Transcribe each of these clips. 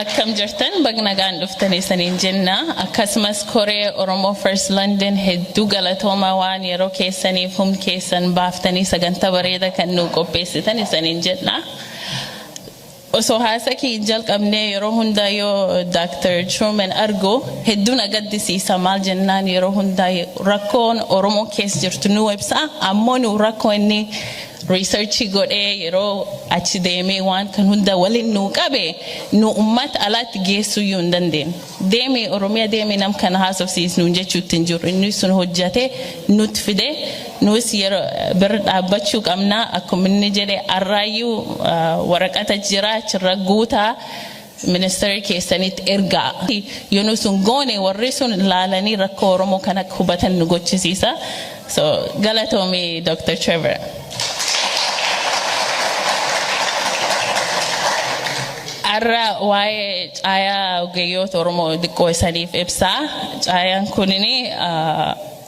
akkam jirtan baga nagaan dhuftan isaniin jenna akkasumas koree oromoo first london hedduu galatoomaa waan yeroo keessaniif humna keessan baaftanii sagantaa bareeda kan nuu qopheessitan isaniin jenna Osoo haasaa kee hin jalqabnee yeroo hundaa yoo Dr. Truman argu hedduu na gaddisiisa maal jennaan yeroo hundaa rakkoon Oromoon keessa jirtu nuu ibsa ammoo nuu rakkoo inni research godhee yeroo achi deemee waan kan hunda waliin nuu qabe nuu ummata alaatti geessuyyuu hin dandeenye. Deemi oromiya deemi nam kana haasofsiis nuun jechuutti hin jirru inni sun hojjate nutti fide nuus yero bira dhaabbachuu qabna akkuma inni jedhe arraayyuu waraqata jira achirra guutaa ministeera keessanitti ergaa yoo nu sun goone warri sun laalanii rakkoo oromoo kan akka hubatan nu gochisiisa. So galatoomi Dr. Trevor. Har'a waa'ee caayaa ogeeyyoota Oromoo xiqqoo isaniif ibsaa. Caayaan kunin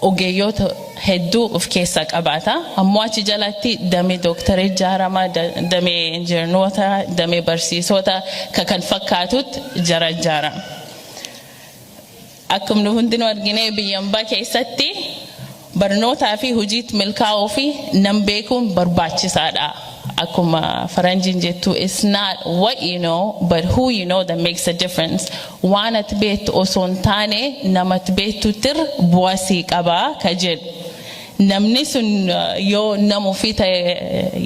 ogeeyyoota hedduu of keessaa qabaata. Ammoo achi jalatti damee dooktarii ijaarama, damee injiinoota, damee barsiisota kan fakkaatutti jara ijaarama. Akkuma nu hundinuu argine biyya ambaa keessatti barnootaa fi hojiitti milkaa'uu fi nan beekuun barbaachisaadha. Akkuma faranjiin jettu it's not what you know but who you know that makes a difference. Waan ati beektu osoo hin taane nama ati beektuutti irra bu'aa sii qaba ka jedhu. Namni sun yoo nama ofii ta'e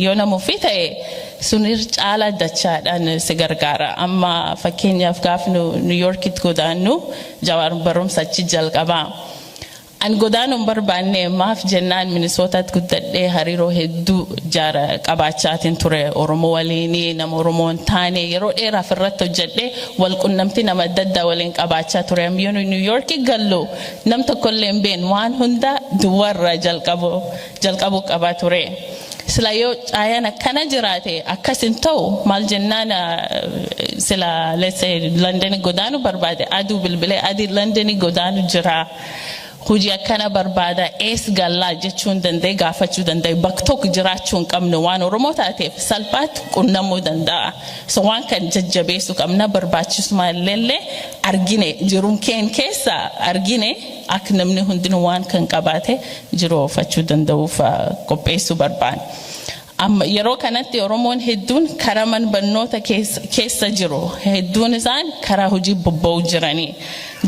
yoo nama ofii ta'e sun irra caalaa dachaadhaan si gargaara. Amma fakkeenyaaf gaaf nu New Yorkitti godaannu Jawaar barumsa achi jalqaba. An godaanuu hin barbaanne maaf jennaan Minisootaatti guddadhee hariiroo hedduu jaara qabaachaatiin ture Oromoo waliinii nama Oromoo hin taane yeroo dheeraaf irratti hojjedhee wal qunnamtii nama adda addaa waliin qabaachaa ture. Am yoo nu New Yorki gallu Nam tokkollee hin beeknu waan hunda duwwarra jalqabu jalqabuu qaba ture. Sila yoo caayaan akkana jiraate akkas hin ta'u maal jennaan sila let's say London godaanu barbaade aduu bilbilee adii London godaanu jira. Hojii akkana barbaada ees gallaa jechuun danda'e gaafachuu danda'e bakka tokko jiraachuu hin qabnu waan Oromoo taateef salphaatti qunnamuu danda'a. So waan kan jajjabeessu qabna barbaachisuma illee argine jiruun keen keessa argine akka namni hundinuu waan kan qabaate jiru oofachuu danda'uuf qopheessuu barbaan. Amma yeroo kanatti Oromoon hedduun karaa man barnoota keessa jiru hedduun isaan karaa hojii bobba'uu jiranii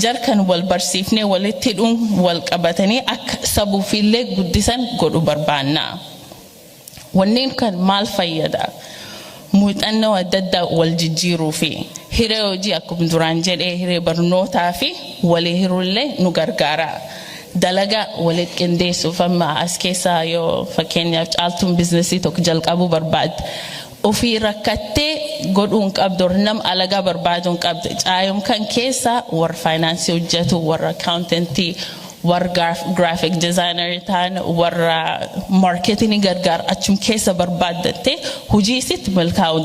jarkan wal barsiifnee walitti hidhuun wal qabatanii akka sabuufiillee guddisan godhu barbaannaa. Wanneen kan maal fayyada? Muuxannoo adda addaa wal jijjiiruu fi hiree hojii akkuma duraan jedhee hiree barnootaa fi walii hiruullee nu gargaara. Dalagaa walitti qindeessuuf amma as keessaa yoo fakkeenyaaf caaltuun biizinasii tokko jalqabuu barbaadde Ofii rakkattee godhuu hin qabdu or nam alagaa barbaaduu hin qabdu. Caayom kan keessa warra faayinaansii hojjetu, warra akkaawuntentii, warra gaaf- giraafiik dizaayinarii ta'an, warra maarkeetinii gargaar achum keessa barbaaddattee hojii isitti milkaa'uu